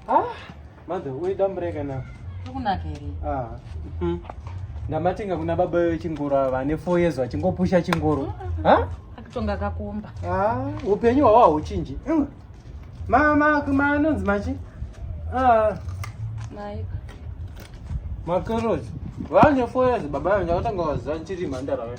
Ah, mother, we don't break enough. Tukunaka here? Ah. Mm. Ndamatenga kuna baba vechingoro ava vane 4 years vachingopusha chingoro. Mm, mm, ha? Akutonga kakumba. Ah, upenyu hwawa huchinji. Mm. Mama, kuma anonzi machi? Ah. Mai. Makaroti. Vane 4 years baba vanga vatanga vaziva chiri mandara wewe.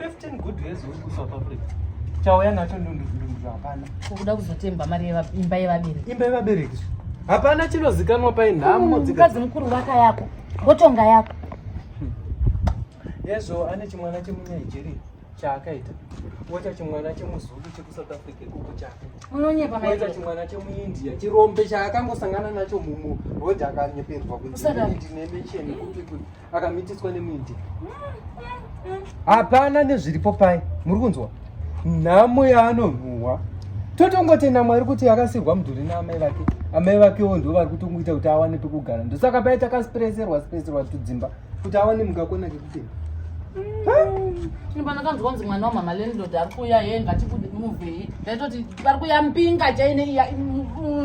15 good years uri kusouth africa chauya nacho ndundundundu hapana ukuda kuzotemba mari imba yevabereki imba yevabereki hapana chinozikanwa pai nhamo mukadzi mukuru vaka yako ngotonga yako yezvo ane chimwana chemunigeria chaakaita woita chimwana chemuzulu chekusouth africa ikuku chake unonyepaoita chimwana chemuindia chirombe chaakangosangana nacho mumu rod akanyeperwa kuiinemecheni kupi kupi akamitiswa nemuindi hapana nezviripo pai muri kunzwa nhamo yaanonhuhwa totongotenda mwari kuti akasirwa mudhuri naamai vake amai vakewo ndo vari kutongoita kuti awane pekugara ndosaka pai takasipereserwa sipereserwa tudzimba kuti awane mukakona kekutenda inipana kanzwa kunzi mwana wamama lendod ari kuuya ye ngatibude muvei ndaitoti pari kuya mbinga chaine iya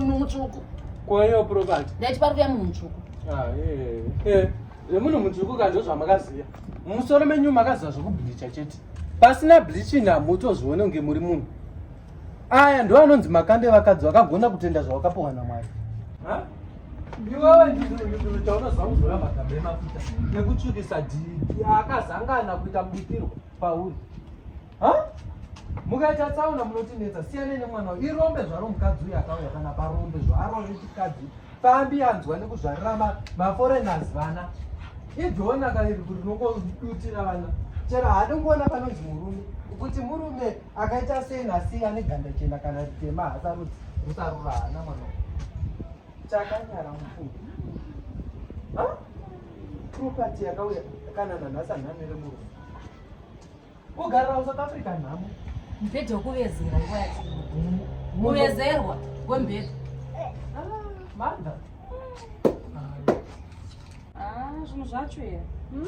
mutsvuku kwayo property ndaiti pari kuya munhu mutsvuku Ah, eh, eh. Remuno mujuku kanjo zvamakaziya. Musoro menyu makaziva zvekubleacha chete. Pasina bleaching hamutozvione kunge muri munhu. Aya ndo anonzi makande vakadzi vakagona kutenda zvawakapohwa naMwari. Ha? Ndiwewe ndizvo chaunoziva kuzora magambe emafuta nekutsvukisa dhidhi akazangana kuita mubikirwa pauri. mukaita tsaona munotinetsa siyanei nemwana uyu irombe zvaro mukadzi uyu akauya kana parombe zvaro rechikadzi pambi anzwa nekuzvarira maforeigners vana idhonaka iri kuti rinongodutira vana chero haadi kuona panonzi murume kuti murume akaita sei nasi ane ganda chena kana ritema hasarudzi rusarura hana mwana chakanyara mufungo propati yakauya kana nanhasi anhamire murume Kugarira kuSouth Africa nhamo. Mubhedha wekuvezera nguva yacho. Kuvezerwa kwemubhedha. Ah, manda. Ah, zvinhu zvacho here. Hmm.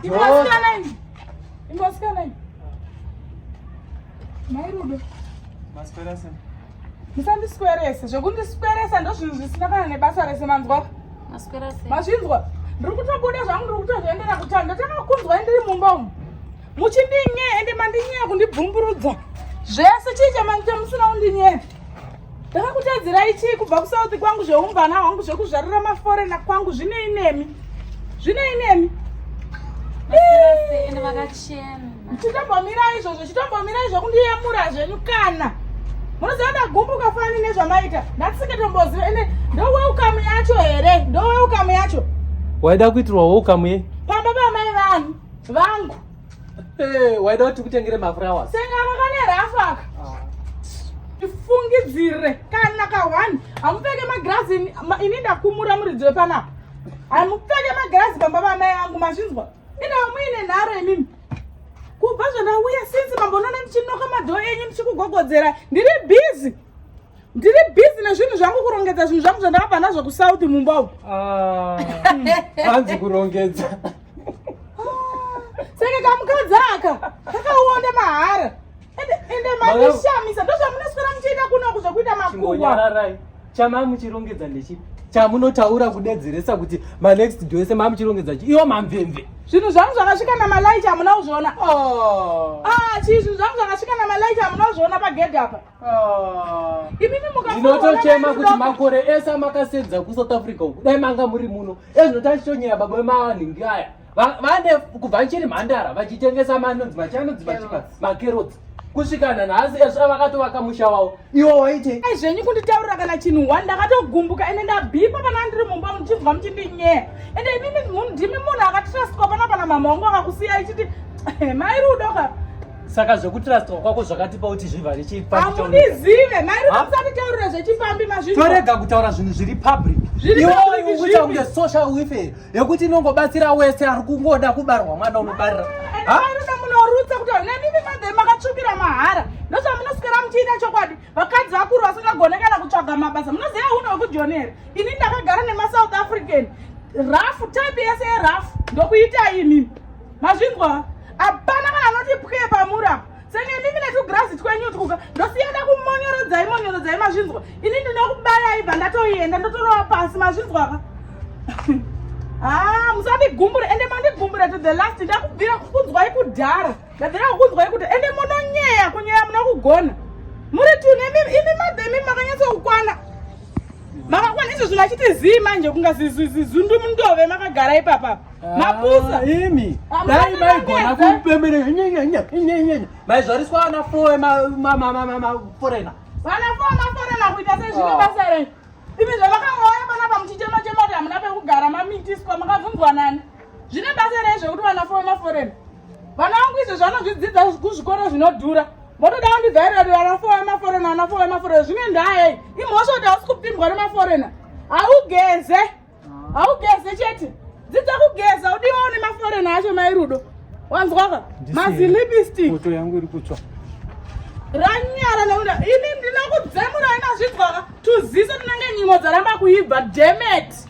Imbosikana ini. Imbosikana ini. Mai Rudo. Maswera sei? musandiswerese zvekundisweresa ndozvinhu zvisina kana nebasa rese manzwa mazvinzwa ndiri kutobuda zvangu ndiri kutozviendera kutani ndatakakunzwa ndiri mumba umu muchindinye ende mandinyeya kundibvumburudza zvese chii chamanite musina kundinyeya ndakakutadzirai chii kubva kusouth kwangu zveumbana hwangu zvekuzvarira maforena kwangu zvinei nemi zvinei nemi vakachena chitombomira izvozvo chitombomira izvo kundiyemura zvenyu kana munoziva ndagumbuka fani nezvamaita ndatisiketomboziva ende ndoweukamu yacho here ndoweukamu yacho waida kuitirwa weukamu ye pamba pamai vanhu vangu eh, waida kuti tikutengere mafurawa sengaro kane rafu aka tifungidzire ah. kana kahwani hamupfeke magirazi ini ndakumura muridzi wepanapa hamupfeke magirazi pamba pamai vangu mazvinzwa Ina muine nharo imimi. Kubva zvandauya since mambonoona ndichinoka madho enyu ndichikugogodzera. Ndiri busy. Ndiri busy nezvinhu zvangu kurongedza zvinhu zvangu zvandakabva nazvo kusouth mumba umu. Ah. Hanzi kurongedza. Saka kamukadzi aka kakaonda mahara. ende makushamisa ndozvamunoswera muchiita kunoku zvekuita makuwanyararai chamamuchirongedza ndechipi chamunotaura kudedzeresa kuti manext do ese mamuchirongedza chi iwo mamvemve zvinhu zvangu zvakasvika namalaichi hamuna kuzviona oh. ah, chii zvinhu zvangu zvakasvika namalaichi hamuna kuzviona pagedhi apa oh. imimi mukainotochema kuti makore ese amakasedza kusouth africa uku dai manga muri muno ezvinotachitonyaya baba vemawanhingi aya vane kubva chiri mhandara vachitengesa manonzi machanonzi machipa makerotsi kusvika nanhasi ezvo avakatovaka musha wavo iwo waite ai zvenyu kunditaurira kana chinhu one ndakatogumbuka ende ndabhipa pana ndiri mumba muchinzwa muchindinyeya ende imimi munhu ndimi munhu akatrastwa pana pana mama wangu akakusiya ichiti eh, mai rudo ka saka zvekutrastwa kwako zvakatipa kuti zvivhare chiamundizive mai rudo musatitaurira zvechipambi mazvino torega kutaura zvinhu zviri public iwo uita kunge social wife yekuti inongobatsira wese ari kungoda kubarwa mwana unobarira munorutsa kuti nemimi madhe makatsvukira mahara ndozvamunosikira muchiita chokwadi vakadzi vakuru vasingagone kana kutsvaga mabasa munoziva uno wekujoni here ini ndakagara nemasouth african rafu type yese yerafu ndokuita imimi mazvinzwa hapana kana anoti pwee pamuri apa Senge mimi netugrazi twenyu twuka ndosiyana kumonyorodzai monyorodzai mazvinzwa ini ndinokubayai bva ndatoienda ndotorova pasi mazvinzwa ka haa ah, musandigumbure ende mandigumbure to the last ndakubvira kukunzwai kudhara ndabvira kukunzwai kuti ende munonyeya kunyeya muna kugona muri tune imi madhemi makanyatsa kukwana makakwana izvo zvinhu achiti zii manje kunga zizundu mundove makagara ipapa ah, mapusa imi ah, dai maigona kupemberera maizvariswa ana foe maforena vana foe maforena kuita sezvino ah. basa renyu imi zvavakangauya panapa muchichema chema kuti hamuna pekugara mamitiswa makabvunzwa nani zvine basa rei zvekuti vana foe maforena vana vangu izvo zvanozvidzidza kuzvikoro zvinodhura motoda kundivhairira vanafore vemaforena vanafore vemaforena zvine ndayei imhosva kuti hausi kupindwa nemaforena haugeze haugeze chete dzidza kugeza udiwawo nemaforena acho mairudo wanzwaka mazilipistic moto yangu iri kutsva ranyara nekuda ini ndinokudzemura inazvinzwaka tuziso tinenge nyimo dzaramba kuibva demet